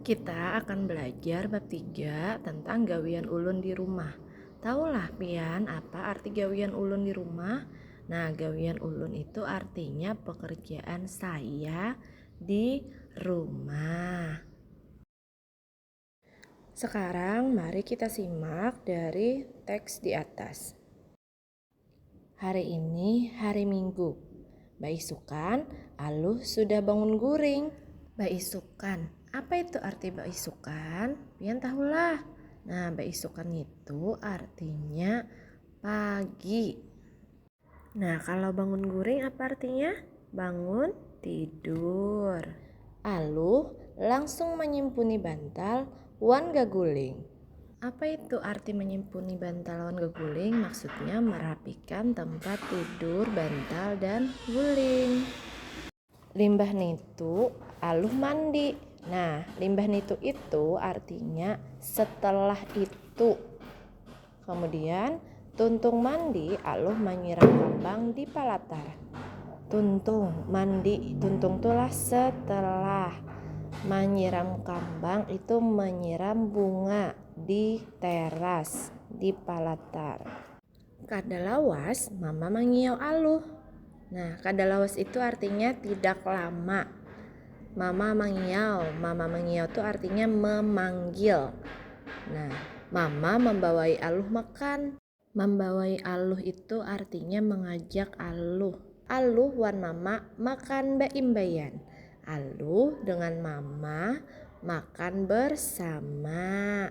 Kita akan belajar bab tiga tentang gawian ulun di rumah. Tahulah pian apa arti gawian ulun di rumah? Nah, gawian ulun itu artinya pekerjaan saya di rumah. Sekarang mari kita simak dari teks di atas. Hari ini hari minggu. Baisukan, Aluh sudah bangun guring. Baisukan, apa itu arti baisukan? Pian tahulah. Nah, baisukan itu artinya pagi. Nah, kalau bangun guring apa artinya? Bangun tidur. Aluh langsung manyimpuni bantal wan gaguling. Apa itu arti manyimpuni bantal wan gaguling? Maksudnya merapikan tempat tidur, bantal, dan guling. Limbah nitu, Aluh mandi. Nah, limbah nitu itu artinya setelah itu. Kamudian, tuntung mandi aluh manyirang kambang di palatar. Tuntung, mandi, tuntung tu lah setelah. Manyiram kambang itu menyiram bunga di teras, di palatar. Kada lawas, mama mangiau aluh. Nah, kada lawas itu artinya tidak lama. Mama mangiau, mama mangiau itu artinya memanggil. Nah, mama membawai Aluh makan. Membawai Aluh itu artinya mengajak Aluh. Aluh wan mama makan baimbaian. Aluh dengan mama makan bersama.